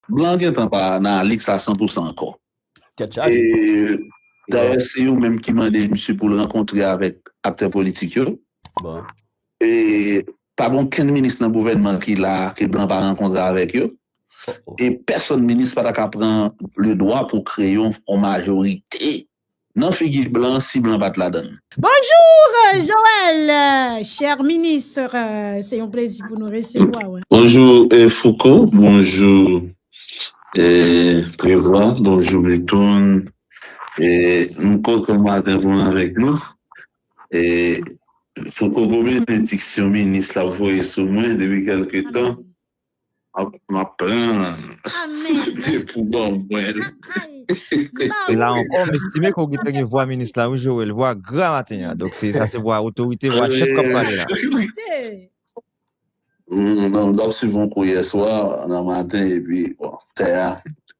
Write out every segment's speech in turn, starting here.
Blan gentan pa nan Alix la san pou san ankò. Tèt chaje. Dayè se yo menm ki mande misye pou l rankontre avèk aktè politik yo. Bon. E pa gen okenn minis nan gouvènman ki la a ke blan pa rankontre avèk yo. E pèsonn minis pa ta ka pran le dwa pou kreye yon majorite Nan figi blan si blan pat ladann. Bonjour Joel cher ministre se yon plezi pou nou resevwa w. Bonjou Fouco bonjou Prevwa bonjou Milton m kontan maten pou m avèk nou Fouco gwo benediksyon minis la voye sou mwen depi kèlke tan Map pranl se pou baw mwenl. Se la ankò m estime ke w gentan gen vwa minis la wi Joel, vwa gra maten an, donk sa se vwa otorite, vwa chèf kap pale la. Humm m tap swiv yon kou yèswa nan maten epi bon tè a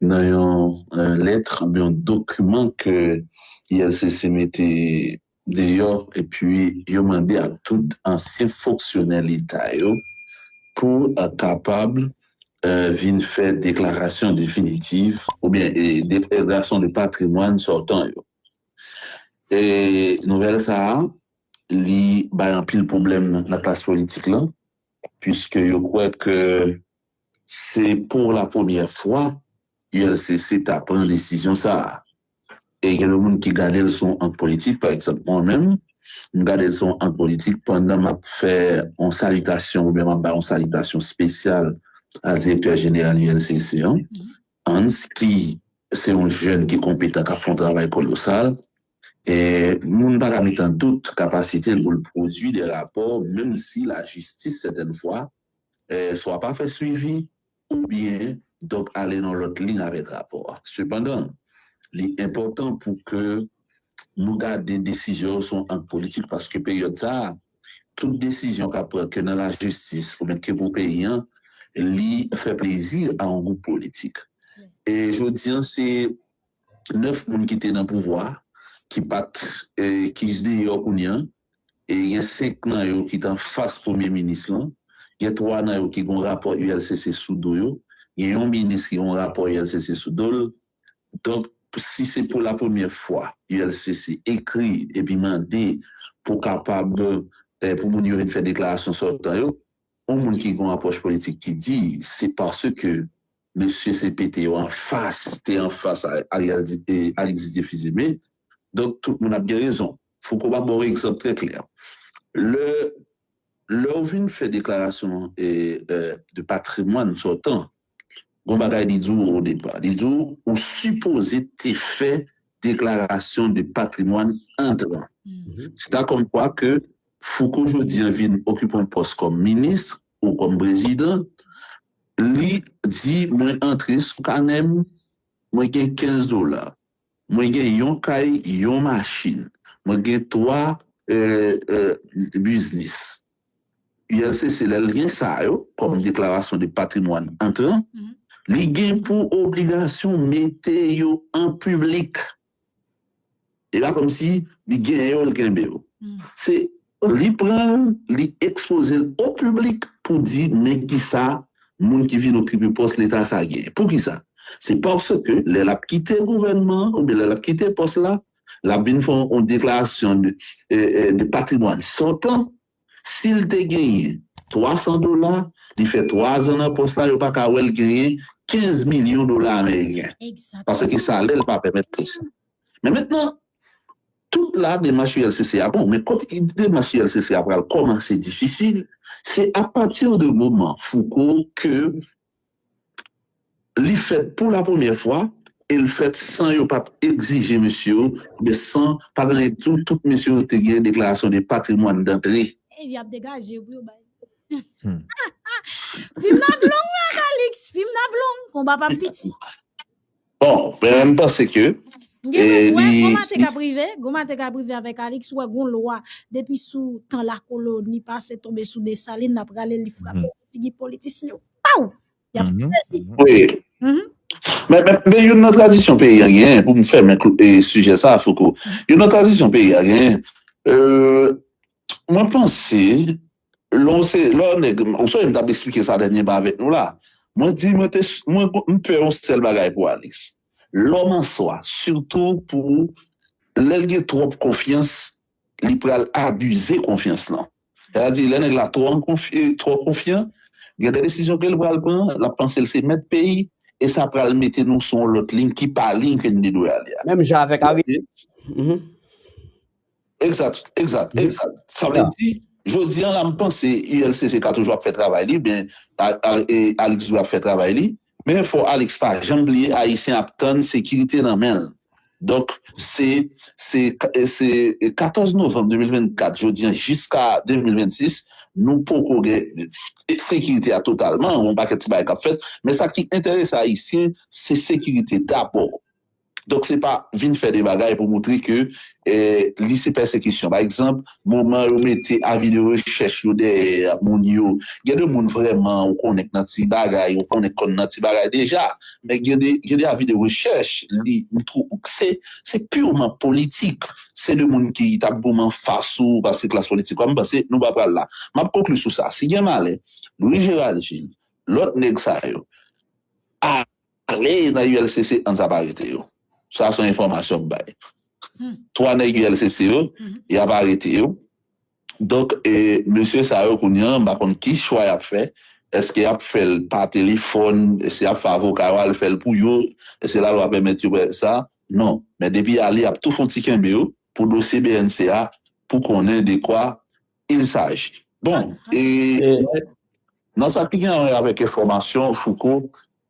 nan yon lèt oubyen yon dokiman ke ILCC mete deyò epi yo mande ak tout ansyen fonksyonè leta yo pou kapab vin fè deklarasyon definitiv oubyen deklarasyon de patrimwàn sòtan yo. Nouvèl sa a li bay anpil pwoblèm nan klas politik lan puiske yo kwè ke Se pou la premyè fwa ULCC ta pran desizyon sa a. E gen yon moun ki gade l se yon ak politik, pa egzanp mwen menm, m gade l se yon ak politik pandan m ap fè yon salitasyon oubyen m ap bay yon salitasyon espesyal a direktè jeneral ULCC an, Hans, ki se yon jèn ki konpetan, k ap fè yon travay kolosal. E moun pa ka met an dout kapasite l pou l pwodui de rapò, menm si lajistis sètèn fwa swa pa fè swivi oubyen dòk ale nan lòt liy avèk rapò a. Sepandan, li enpòtan pou ke nou gade desizyon yo se yon ak politik paske peryòd sa a, tout desizyon k ap pran ke nan lajistis oubyen ke pou peyi an, li fè plezi a yon gwoup politik. E jodi an se 9 moun ki te nan pouvwa ki pa t, ki deyò kounye an, e gen 5 nan yo ki t anfas premye minis lan, gen 3 nan yo ki gen yon rapò ULCC sou do yo, gen yon minis ki gen yon rapò ULCC sou do l. Donk, si se pou lapremyè fwa ULCC ekri epi mande pou kapab pou moun yo vin fè deklarasyon sòtan yo, yon moun ki gen yon apwòch politik ki di se paske mesye CPT yo anfas te anfas Ariztide Fils-Aimé, donk tout moun ap gen rezon. Fouco ba baw egzanp trè klè. Lè lèw vin fè deklarasyon de patrimwàn sòtan, gon bagay li di w o depa. Li di w ou sipoze te fè deklarasyon de patrimwàn antran. Se ta kòm kwa ke Fouco jodi an vin okipe yon pòs kòm minis ou kòm prezidan, li di mwen antre sou kanè m, mwen gen 15 dola. Mwen gen yon kay, yon machin. Mwen gen 3 biznis. ULCC, lè l gen sa yo kòm deklarasyon de patrimwàn antran, li gen pou obligasyon mete yo an piblik. E pa kòmsi li gen yo, l kenbe yo. Se Li pran l, li ekspoze l o piblik pou di men kisa moun ki vin okipe pòs leta sa genyen. Poukisa? Se paske lè l ap kite gouvènman an oubyen lè l ap kite pòs la, l ap vin fè yon deklarasyon de patrimwàn sòtan. Si l te genyen 300 dola, li fè twazan nan pòs la, yo pa ka wè l genyen 15 milyon dola ameriken paske salè l pa pèmèt li sa. Men mentnan, Tout la demach ULCC a bon, men kote demach ULCC a pral kòmanse difisil, se apati de moman Fouco ke li fèt pou la premyè fwa e l fèt san yo pa t egzije mesye yo oubyen san pa t gen tou tout mesye yo te gen deklarasyon de patrimwàn dantre. Ey vi ap degaje pou yo bay Fim n ap long la Calixte Fim n ap long Konba p ap piti. Bon, mwen menm panse ke M gen dwa kwè, li. koma te kab rive, koma te kab rive avèk Alix, ou wè gon lwa depi sou tan lakoloni pase tonbe sou Desalin l ap rale li frape nan figi politisyen yo paw! Y ap sezi. Wi. Men, men youn nan tradisyon peyi a genyen, pou m fèmen kl e sijè sa a Fouco, youn nan tradisyon peyi a genyen, e mwen panse Lè w se lè w nèg, ou sonje m t ap esplike sa dènyèman avèk nou la. Mwen di mwen te mwen m pè yon sèl bagay pou Alix. Lò m answa, sitou pou lè l gen twòp konfyans, li pral abize konfyans lan. Sètadi lè nèg la twò an konf twò konfyan, gen de desizyon ke l pral pran, l ap panse l se mèt peyi e sa pral mete nou sou yon lòt liy ki pa liy ke n te dwe ale a. Menm jan avèk Ari. Egzat, egzat, egzat. Sa vle di, jodi an la m panse ULCC ka toujou ap fè travay li, men Alix dwe ap fè travay li. Men fò Alix pa janm bliye Ayisyen ap tann sekirite nan men l. Donk se 14 novanm 2024 jodi an jiska 2026 nou poko gen sekirite a totalman, gen yon pakèt ti bagay k ap fèt. Men sa ki enterese Ayisyen se sekirite dabò. Donk se pa vin fè de bagay pou montre ke li se pèsekisyon. Pa egzanp, moman yo mete avi de rechèch yo dèyè moun yo, gen de moun vrèman ou konnen k nan ti bagay, ou konnen k konn nan ti bagay deja. Men gen de gen de avi de rechèch li mtwou ou k se se purman politik. Se de moun ki t ap goumen an fas ou paske klas politik ou a. M panse nou pa pral la. M ap konkli sou sa. Si gen malè Louis Gérald Gilles, lòt nèg sa yo, a. Kle nan ULCC an sa pa rete yo sa son enfòmasyon m bay 3 nèg ULCC yo yap arete yo donk mesye sa yo kounya m pa konn ki chwa yap fè eske yap fèl pa telefòn eske yap fè avoka yo al fèl pou yo eske lalwa pèmèt yo fè sa non men depi ale yap tou fon ti kenbe yo pou dosye bnc a pou konnen dekwa Il saj. Bon, e mèt, nan sa ki gen anwe avèk enfòmasyon, Fouco,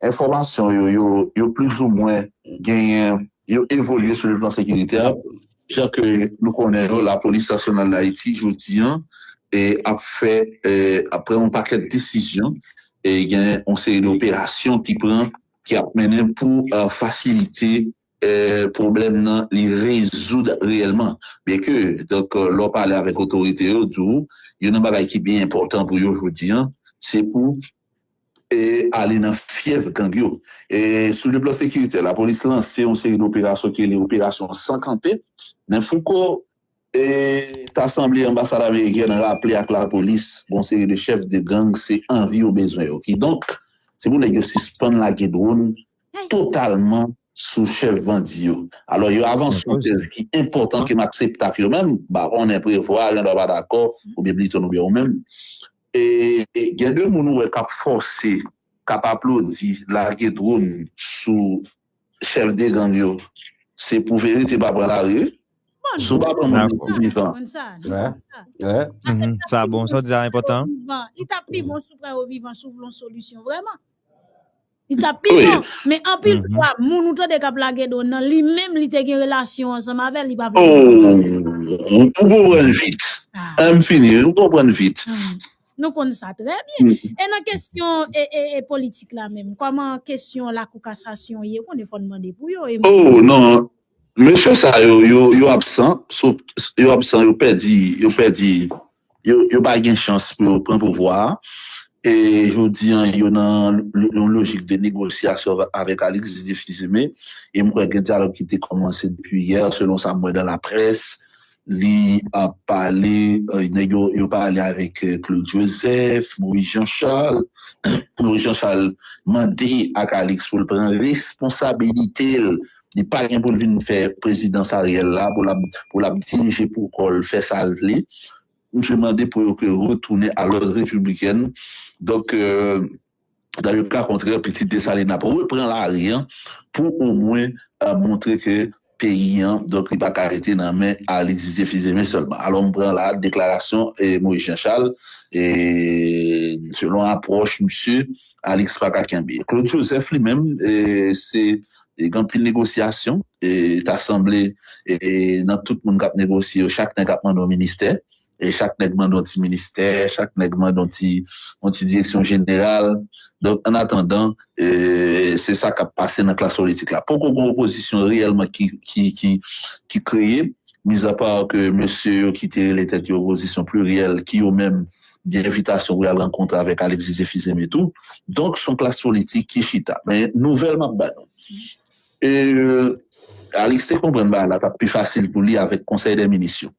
enfòmasyon yo, yo, yo plizoumwen genyen, yo evolye sou le plan sekirite a, jan ke nou konnen yo, Lapolis Nasyonal Dayiti, jodi an, e ap fè, e ap pran yon pakèt desizyon, e gen yon seri de operasyon ki pran, ki ap mennen pou fasilite pwoblèm nan li rezoud reyèlman byen ke donk lè w pale avèk otorite yo di w youn nan bagay ki pi enpòtan pou yo jodi an se pou ale nan fyèf gang yo sou le plan sekiritè lapolis lanse yon seri doperasyon ki rele operasyon san kanpe men fouko ta sanble anbasad amerikèn raple ak lapolis yon seri de chèf de gang se anvi yo bezwen yo kidonk se pou nèg yo sispann lage dwòn totalman sou chèf bandi yo. Alò yo avanse yon tèz ki enpòtan ke m aksepte ak yo menm, m pa konnen Prevost gen dwa pa dakò oubyen Bliton oubyen ou menm, gen de moun ou wè k ap fòse, k ap aplodi lage dronn sou chèf de gang yo, se pou verite pa pran lari wi. Si w pa pran moun nan tou vivan. Sa bon, sa w di a enpòtan. Li tap pi bon, men anpil fwa moun ou tande kap lage do nan li menm li te gen relasyon ansanm avèl li pa vle di sa. Oh ou konprann vit. Ah m fini wi, ou konprann vit. Nou konn sa trè byen. E nan kesyon e politik la menm, kòman kesyon lakou kasasyon ye, ou konnen fòn mande pou yo e m. Oh non, Mesye sa yo yo absan yo absan yo pèdi yo pèdi yo pa gen chans pou yo pran pouvwa a e jodi an yo nan yon lojik de negosyasyon avèk Alix Difizime e m kwè gen dyalòg ki te kòmanse depi yè selon sa m wè dan laprès. li ap pale nèg yo yo pale avèk Claude Joseph, Moïse Jean Charles, Moïse Jean Charles mande ak Alix pou l pran responsabilite l, li pa gen pou l vin fè prezidans Ariel la pou lap pou lap dirije pou kò l fè sa l vle, misye mande pou yo ke retounen a lòd repiblikèn donk. Dans le cas contraire pitit Dessalines ap repran lari an pou omwen montre ke peyi an donk li pa ka rete nan men Arly Didier Fils-Aimé sèlman. Alò m pran la a deklarasyon Moïse Jean Charles e selon apwòch misye Alix pa ka kenbe. Claude Joseph li menm se gen anpil negosyasyon e ta sanble nan tout moun k ap negosye yo chak nèg ap mande yon ministè Chak nèg mande yon ti ministè, chak nèg mande yon ti yon ti direksyon jeneral. Donk an atandan, se sa k ap pase nan klas politik la. Poko gen opozisyon reyèlman ki ki ki kreye, mizapa ke mesye yo ki te rele tèt yo opozisyon pliryèl ki yo menm gen envitasyon pou y al rankontre avèk Alexis Zefizeme tou. Donk s on klas politik ki chita. Men nouvèl m ap ba nou, Alix te konprann bagay la t ap pi fasil pou li avèk konsèy dè minis yo.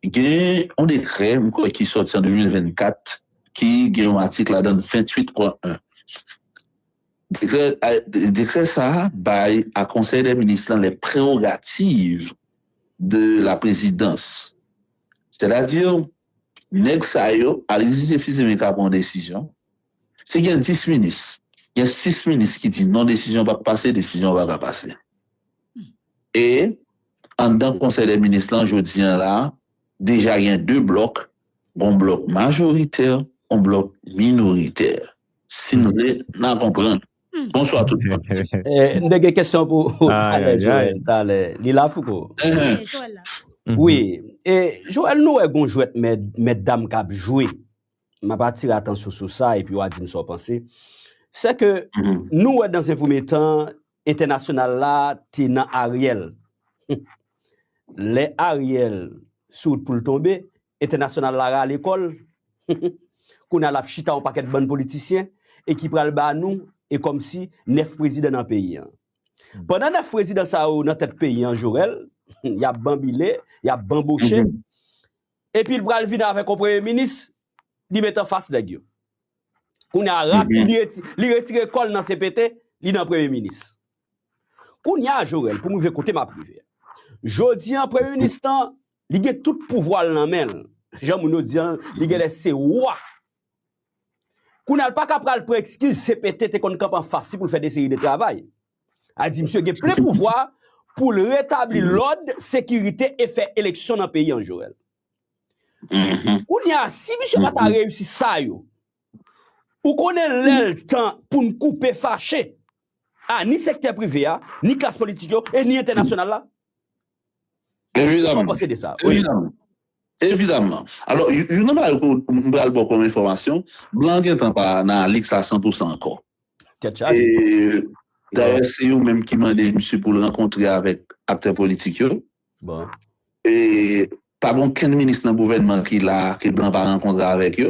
Gen yon dekrè, m kwè, ki sòti an 2024 ki gen yon atik ladan l 28 pwen 1. Dekrè, dekrè sa a bay a Konsèy dè Minis lan lè prerogativ de la prezidans. Sètadi, nèg sa yo, Alexis et Fils Aimé ka pran yon desizyon, si gen 10 minis, gen 6 minis ki di non desizyon an p ap pase, desizyon an pa ka pase. E, anndan Konsèy dè Minis lan jodi an la, deja gen 2 blòk, gon blòk majoritè, gon blòk minoritè. Si n vle, n a konprann. Bonswa tout moun. M te gen kesyon pou Talè Joel talè. Li la Fouco? Wi. E, Joel nou wè gon jwèt mèt dam k ap jwe, m ap atire atansyon sou sa epi w a di m sa w panse. Sèke nou wè dan zen premye tan, Entènasyonal la te nan Ariel humm lè Ariel sou wout poul tonbe entènasyonal la rale kòl humm kounya lap chita yon pakèt bann politisyen e ki pral ba nou e kòmsi 9 prezidan nan peyi an pandan 9 prezidan sa yo nan tèt peyi an jorèl humm yap banbile yap banboche epil pral vin avèk yon premye minis li met anfas nèg yo. Kounye a rap li retire kòl nan CPT li nan premye minis. Kounye a Jorel pou m rive kote map rive a. Jodi an premye minis lan li gen tout pouvwa l nan men l. Jan moun yo di an li genlè se wa. Kounye a l paka pral pran ekskiz CPT te konn kanpe anfas li pou l fè de seri de travay. A di misye gen plen pouvwa pou l retabli lòd, sekirite e fè eleksyon nan peyi an Jorel. Kounye a si misye pa ta reyisi sa yo ou konnen lè l tan pou n koupe fache a ni sektè prive a, ni klas politik yo e ni entènasyonal la? Kisa w panse de sa? Evidaman. Evidaman. Alò youn nan bagay ke m pral ba w kòm enfòmasyon, blan an gentan pa nan Alix la san pou san ankò. Tèt chaje. E dayè se yo menm ki mande misye pou l rankontre avèk aktè politik yo. Pa gen okenn minis nan gouvènman ki la ke blan pa rankontre avèk yo.